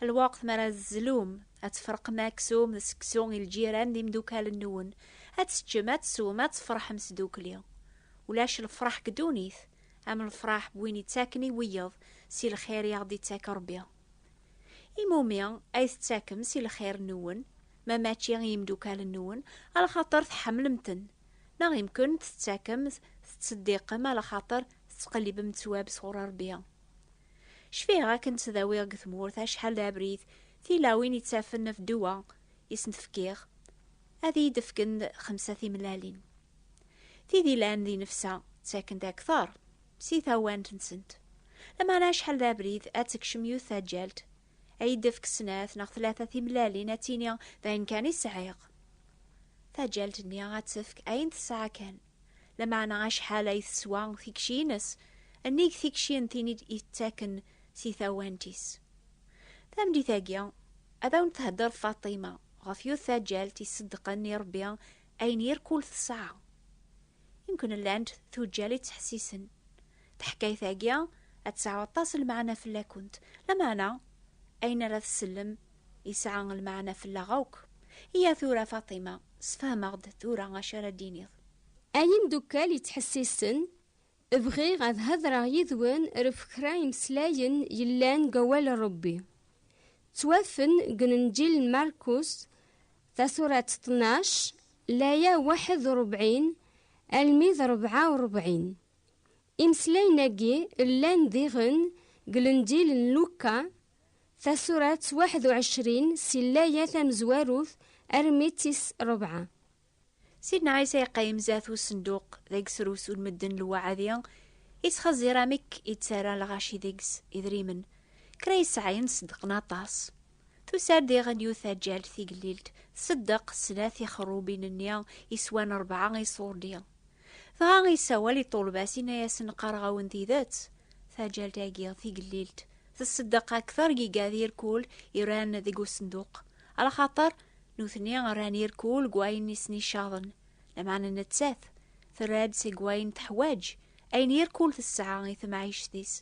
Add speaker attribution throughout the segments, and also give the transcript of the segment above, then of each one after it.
Speaker 1: Lweqt mi ara tzlum, ad tefreqem aksum d seksu i lǧiran d imdukal-nwen, ad teččem, ad teswem, ad tefreḥem sdukli. Ulac lefraḥ deg ddunit am lefraḥ n win ittaken i wiyeḍ si lxir i aɣ-d-ittak Rebbi. Imumi ay tettakem si lxir-nwen, ma mačči i yimdukal-nwen, alaxaṭer tḥemmlem-ten, neɣ imkun tettakem, tettseddiqem alaxaṭer tettqellibem ttwab sɣur Rebbi? Cfiɣ akken ttdawiɣ deg tmurt acḥal d abrid, tilawin yettafen af ddwa i sen-d-fkiɣ, ad iyi-d-fken xemsa timellalin. Tid yellan di nefsa ttaken-d akteṛ si tawant-nsent. Lameɛna acḥal d abrid ad tekcem yiwet taǧǧalt, ad iyi-d-tefk snat neɣ tlata timellalin ad tini d ayen kan i sɛiɣ. Taǧǧalt-nni ad tefk ayen tesɛa kan. lameɛna acḥal ay teswa tikci-nnes, nnig tikci n tin i d-yettaken si tawant-is. Tameddit-agi, ad awen-thedder Faṭima ɣef yiwet taǧǧalt iṣeddqen i Ṛebbi ayen yir kul tesɛa. Yemken llant tuǧǧal i ttḥessisen. Taḥkayt-agi ad tesɛu aṭas n lmeɛna fell-akent, lameɛna ayen ara tsellem Yesɛa lmeɛna fell-aɣ akk. Iyya tura Faṭima, sefhem-aɣ-d tura acu ara d-tiniḍ. Ay imdukkal
Speaker 2: yettḥessisen, bɣiɣ ad hedreɣ yid-wen ref kra imeslayen yellan deg Awal n Rebbi. Ttwafen deg Lenǧil n Markus, tasurat ṭnac, laya waḥed u rebɛin almi d rebɛa u rebɛin. Imeslayen-agi llan diɣen deg Lenǧil n Lukka, Tasurat waḥed u ɛecrin si llaya tamezwarut armi d tis rebɛa. Sidna
Speaker 1: Ɛisa yeqqim zdat usenduq deg srusun medden lwaɛdi yettxeẓẓir amek i ttarran lɣaci deg-s idrimen. Kra yesɛayen ṣeddqen aṭas. Tusa-d diɣen yiwet taǧǧalt tigellilt tṣeddeq snat tixerrubin-nni yeswan rebɛa iṣurdi. Dɣa yessawal i ṭṭulba-s yenna-yasen qqareɣ-awen tidet, taǧǧalt-agi tigellilt, Tseddeq akteṛ giga d irkul i rran deg usenduq, ala xaṭer nutni rran irkul deg wayen i sen-icaḍen, lameɛna nettat terra-d seg wayen teḥwaǧ, ayen irkul tesɛa i temɛict-is.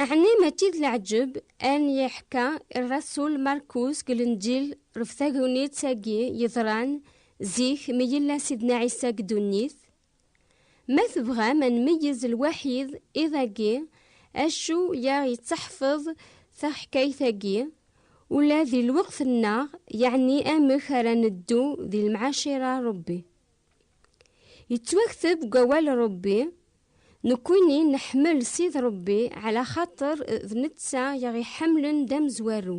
Speaker 2: Ɛni mačči d leɛǧeb ayen yeḥka rrasul Markus deg Lenǧil ɣef tagnit-agi yeḍran Zik mi yella Sidna Ɛisa deg dunnit, ma tebɣam ad nmeyyez lwaḥid iḍ agi acu yaɣ yettaḥfeḍ taḥkayt agi ula di lweqt nneɣ yeɛni amek ara neddu di lemɛacira n Rebbi. Yettwakteb deg awal Rebbi nekwini neḥmel Sid Rebbi ɛla xaṭer d netta yaɣ iḥemlen d amezwaru.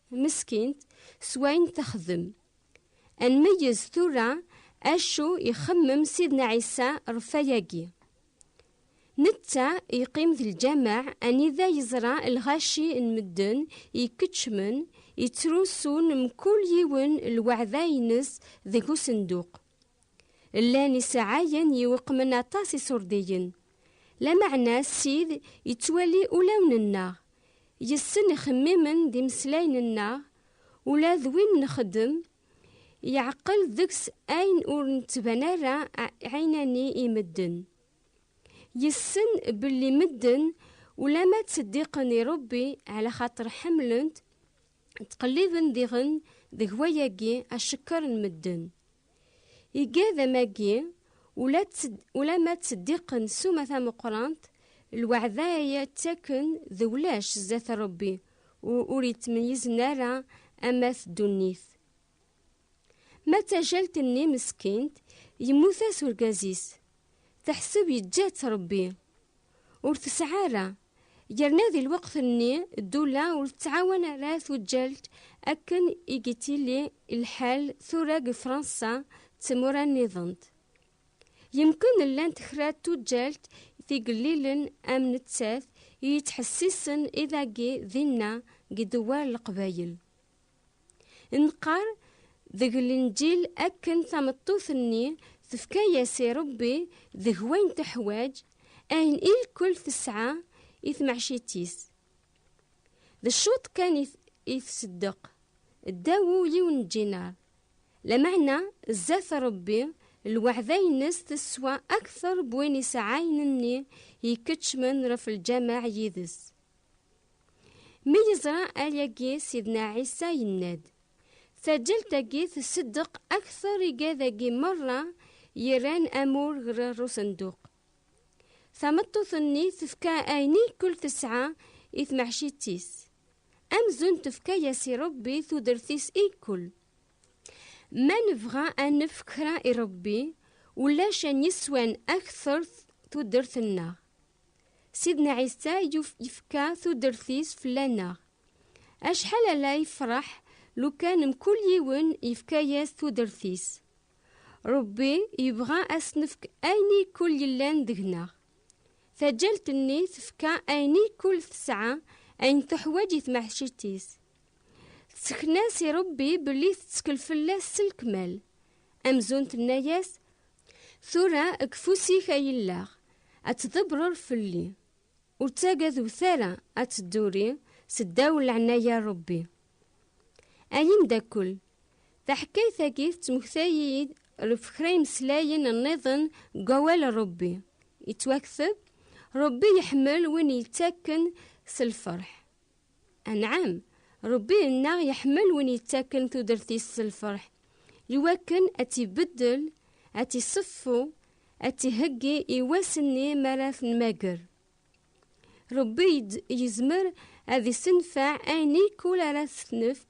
Speaker 2: Meskint s wayen texdem. Ad nmeyyez tura acu ixemmem Sidna Ɛisa ɣef wayagi. Netta yeqqim d lǧameɛ anida yeẓra lɣaci n medden yekeččmen yettrusun mkul yiwen lweɛda-ines deg usenduq. Llan isɛayen yiweqmen aṭas iṣurdiyen. Lameɛna Ssid yettwali ulawen-nneɣ, yes-sen ixemmimen d imeslayen-nneɣ, ula d win nexdem, yeɛqel deg-s ayen ur nettban ara ɛinani i medden. Yessen belli medden ulamma ttseddiqen i Rebbi ɛla xaṭer ḥemmlen-t, ttqelliben diɣen deg wayagi acekker n medden. Igadam-agi, ula d tt-d ula ma ttseddiqen ssuma tameqqrant, lweɛda ay ttaken d ulac sdat Rebbi u ur yettmeyyizen ara ama d dunnit. Ma d tajalt-nni meskint, yemmut-as urgaz-is, teḥseb yeǧǧa-tt Rebbi. Ur tesɛa ara. Yerna di lweqt-nni ddula ur tettɛawan ara tuǧǧalt akken i yettili lḥal tura deg Fransa d tmura nniḍen. Yemken llant kra n tuǧǧalt tigellilen am nettat i yettḥessisen i dagi dinna deg Dewwar n Leqbayel. Nqar deg lenǧil akken tameṭṭut-nni tefka-yas i Rebbi deg wayen teḥwaǧ, ayen i lkul tesɛa i tmeɛcit-is. D ccuṭ kan i tseddeq, ddaw ul-iw n djinar. Lameɛna zdat Rebbi, lweɛda-ines teswa akteṛ n win isɛayen-nni yekeččmen ɣef lǧameɛ yid-s. Mi yeẓra ayagi Sidna Ɛisa yenna-d, Taǧǧalt-agi tseddeq akteṛ igad-agi meṛṛa yerran amur ɣer usenduq. Tameṭṭut-nni tefka ayen i kul tesɛa i tmeḥcitt-is, amzun tefka-yas i Ṛebbi tudert-is i kul. Ma nebɣa a nefk kra i Ṛebbi, ulac ayen yeswan akteṛ tudert-nneɣ. Sidna Ɛisa yefka tudert-is fell-aneɣ. Acḥal ara yefreḥ lukan mkul yiwen yefka-yas tudert-is! Ṛebbi yebɣa a s-nefk ayen i kul yellan deg-neɣ. Taǧǧalt-nni tefka ayen i kul tesɛa ayen tuḥwaǧ i tmeḥciţ-is. Tsekna-s i Ṛebbi belli teţkel fell-as s lekmal, amzun tenna-yas, Tura deg ufus-ik ay illaɣ, ad tḍebbreḍ fell-i, ur ttagadet ara ad tedduri seddaw n leɛnaya n Rebbi. Ay imdakel, taḥkayt-agi tettmektay-iyi-d ɣef kra imeslayen nniḍen deg Wawal n Rebbi, yettwakteb, Rebbi iḥemmel win yettakken s lferḥ. Anɛam, Ṛebbi nneɣ iḥemmel win yettaken tudert-is s lfeṛḥ, i wakken ad tt-ibeddel, ad tt-iṣeffu, ad tt-iheggi i wass-nni mi ara t-nmagger. Ṛebbi yezmer ad issenfeɛ ayen ikk ur ara t-nefk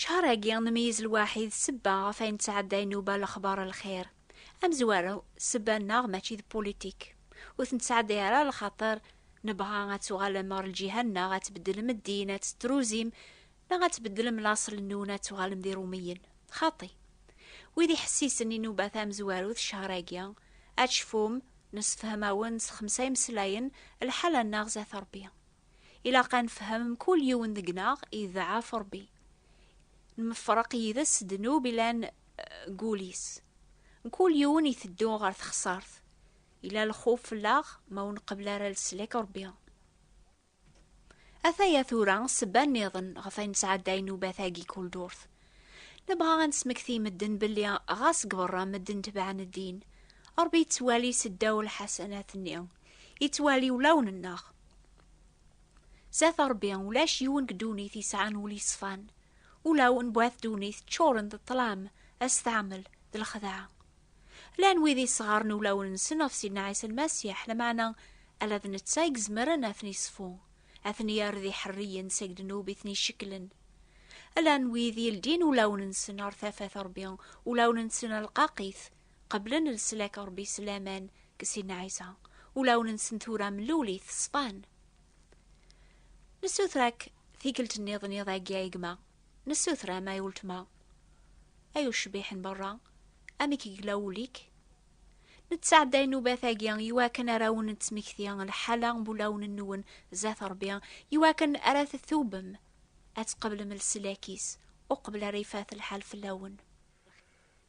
Speaker 1: Cehṛ-agi nmeyyez lwaḥi d ssebba ɣef ayen ttɛedday nuba lexbaṛ lxir. Amezwaru, ssebba-nneɣ mačči d pulitik. Ur ten-ttɛedday ara lxaṭer nebɣa ad tuɣalem ɣer lǧiha-nneɣ ad tbeddlem ddin, ad tettruzim, neɣ ad tbeddlem laṣel-nnun ad tuɣalem d iṛumiyen. Xaṭi. Wid iḥessisen i nuba tamezwarut cehṛ-agi, ad tecfum, nessefhem-awen s xemsa imeslayen, lḥala-nneɣ zdat Ṛebbi. Ilaq ad nefhem mkul yiwen deg-neɣ iḍɛaf Ṛebbi. Nmefreq yid-s ddnub ilan deg wul-is. Mkul yiwen iteddu ɣer texṣart. Ila lxuf fell-aɣ ma ur nqebbel ara leslak Ṛebbi. Ataya tura ssebba nniḍen ɣef ay nesɛedday nnubat-agi kul durt. Nebɣa ad nesmekti i medden belli ɣas deg beṛṛa medden tebɛen ddin, Ṛebbi yettwali seddaw lḥasanat-nni, yettwali ulawen-nneɣ. Zat Ṛebbi, ulac yiwen deg ddunit yesɛan ul yeṣfan. Ulaw n wat ddunit ččuren d ṭṭlam, asetɛamel, d lexdeɛ. Llan wid yesɣaren ulawen-nsen ɣef Sidna Ɛisa Lmasiḥ, lameɛna ala d netta i izemren ad ten-iṣfu, ad ten-yerr d iḥerriyen seg ddnub i ten-icekklen. Llan wid yeldin ulawen-nsen ɣer tafat Ṛebbi, ulawen-nsen rqaqit, qeblen leslak n Rebbi s laman deg Sidna Ɛisa, ulawen-nsen tura mlul-it ṣfan. Nessuter-ak tikkelt nniḍen iḍ agi ay gma, nessuter-am ay weltma, ay ucbiḥ n berra, amek yella wul-ik? Nettɛedday nubat-agi iwakken ara awen-nettmekti lḥala n wulawen-nwen zdat Rebbi, iwakken ara tetubem, ad tqeblem leslak-is, uqbel ara ifat lḥal fell-awen.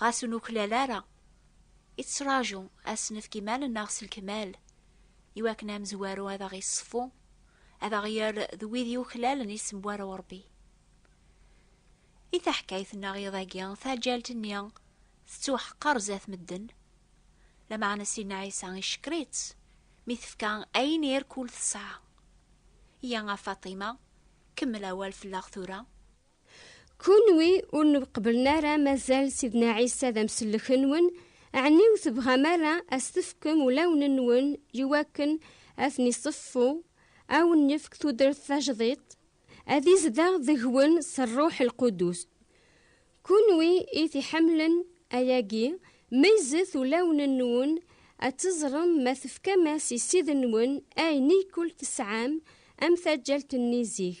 Speaker 1: Ɣas ur nuklal ara, ittraǧu ad s-nefk iman-nneɣ s lekmal, iwakken amezwaru ad aɣ-iṣeffu, ad aɣ-yerr d wid yuklalen isem n War Uṛebbi. I taḥkayt-nneɣ iḍ-agi, taǧǧalt-nni tettwaḥqer zdat medden, lameɛna Sidna Ɛisa icekker-itt mi tefka ayen i rkul tesɛa. Yya a Faṭima, kemmel awal fell-aɣ tura.
Speaker 2: Kunwi ur nqebblen ara mazal Sidna Ɛisa d amsellek-nwen, ɛni ur tebɣam ara ad s-tefkem ulawen-nwen iwakken ad ten-iṣeffu, ad awen-yefk tudert tajdiṭ, ad izdeɣ deg-wen s Rruḥ Lqudus? Kunwi i t-iḥemmlen, ayagi, meyyzet ulawen-nwen ad teẓrem ma tefkam-as i Ssid-nwen ayen i kul tesɛam am taǧǧalt-nni zik.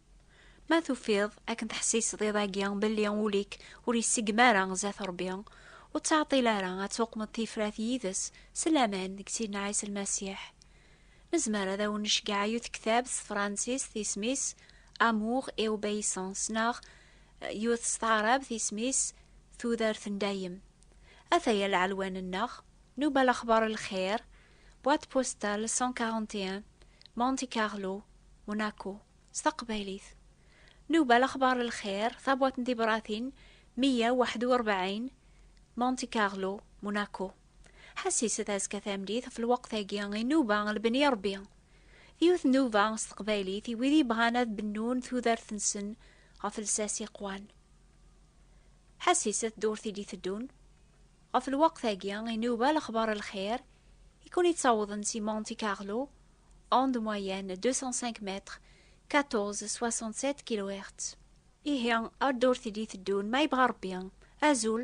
Speaker 1: Ma tufiḍ akken teḥsiseḍ iḍ-agi belli ul-ik ur yessegm ara zdat Rebbi, ur ttɛeṭṭil ara ad tuqmeḍ tifrat yid-s s laman deg Sidna Ɛisa Lmasiḥ. Nezmer ad awen-necgeɛ yiwet ktab s tefransist isem-is Amour et obéissance neɣ yiwet s taɛrabt isem-is Tudert n dayem. Ataya lɛelwan-nneɣ, nuba lexbar n lxir, Boîte postale 141 Monte Carlo Monaco s taqbaylit Nuba lexbar n lxir tabwat n tibratin 141 Monte Carlo Monaco Ḥassiset azekka tameddit ɣef lweqt-agi i Nuba lebni i Rebbi d yiwet Nuba s teqbaylit i wid yebɣan ad bennun tudert-nsen ɣef lsas iqwan Ḥassiset ddurt i d-iteddun Ɣef lweqt-agi, inuba lexbar n lxir i ken-yettawḍen si Monte Carlo, onde moyenne 205 mètres, 1467 kilohertz. Ihi, ar ddurt i d-iteddun, ma yebɣa Rebbi. Azul!